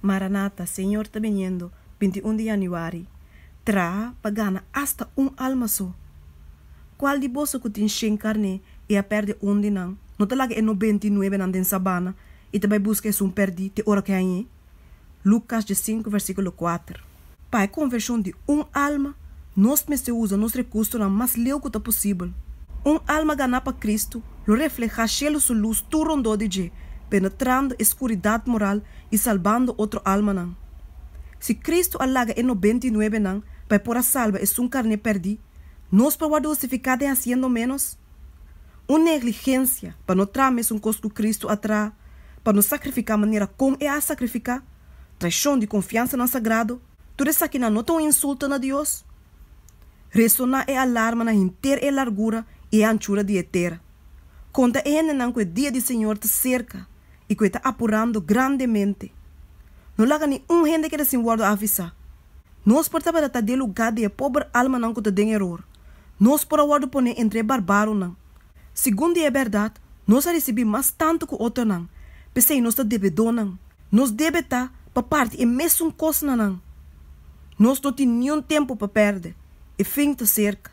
Maranata, Señor ta biniendo, binti un di Yanuari, Traha pa gana asta un alma so. Cual di boso cu tin shen carné y a perde un di nan, no ta laga e nobenta y nuebenan den sabana y ta bay busca esun perdí te ora cu a ñe? Lucas djecinku, versiculo kuater. Pa e konvershon di un alma, nos mester usa nos rekursonan mas leu ku ta posibel. Un alma ganá pa Kristu lo reflehá shelu su lus tur rondó di dje, penetrando e skuridat moral i salbando otro almanan. Si Kristu a laga e nobenta i nuebenan pa e por a salba esun karné pèrdí, nos por wòrdu hustifiká den hasiendo ménos? Un negligensia pa no traha mesun kos ku Kristu a traha pa no sakrifiká manera kon e a sakrifiká. traishon di konfiansanan sagrado, tur esakinan no ta un insulto na Dios? Resoná e alarma na henter e largura i e anchura di e tera. Kon ta e hendenan ku e dia di Señor ta serka i ku e ta apurando grandemente! No laga ni un hende keda sin wòrdu avisá. Nos por tabata ta den lugá di e pober almanan ku ta den eror. Nos por a wòrdu poné entre e barbáronan. Segun di e bèrdat, nos a risibí mas tantu ku otonan, p'esei nos ta debedónan. Nos debe ta pa parti e mesun kosnanan. Nos no tin niun tempu pa pèrdè. E fin ta serka.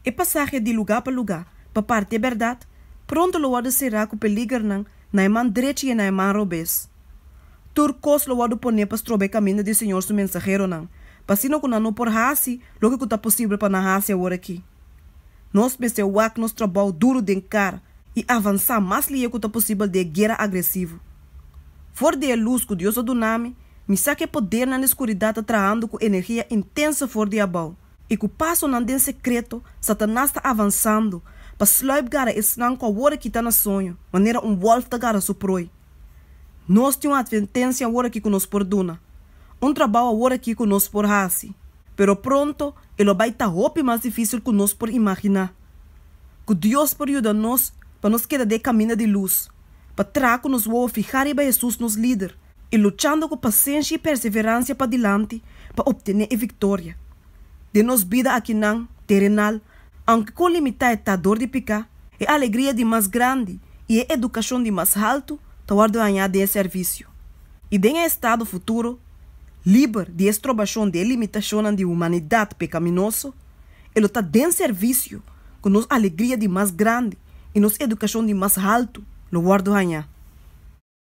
E pasahe di lugá pa lugá pa parti e bèrdat pronto lo wòrdu será ku peligernan na e man drechi i e na e man robes. Tur kos lo wòrdu pon'é pa stroba e kaminda di Señor su mensaheronan, pa asina ku nan no por hasi loke ku ta posibel pa nan hasi awor aki. Nos mester wak nos trabou duru den kar i avansá mas lihé ku ta posibel den e guera agresivo. For di e lus ku Dios a duna mi, mi sa ku e poder nan di skuridat ta trahando ku energia intenso for di abou, i ku pasonan den sekreto Satanas ta avansando pa sluip gara esnan ku awor a kita na soño, manera un wòlf ta gara su proi. Nos tin un atvertensia awor aki ku nos por duna, un trabou awor aki ku nos por hasi, pero pronto e lo bai ta hopi mas difísil ku nos por imaginá. Ku Dios por yuda nos pa nos keda den e kaminda di lus. Pa traha cu nos wowo fihá riba Jesús nos Lider i luchando cu pasenshi i perseverancia padilanti pa obtené e victoria. Den nos bida akinan terenal, aunke con limitá e ta dor di picá, e alegria di mas grandi i e educacion di mas haltu ta wòrdu hañá den e servicio. I den e estado futuro, liber di e strobacion di e limitacionnan di humanidad pecaminoso, E lo ta den servisio ku nos alegria di mas grandi i nos edukashon di mas haltu lo wòrdu hañá.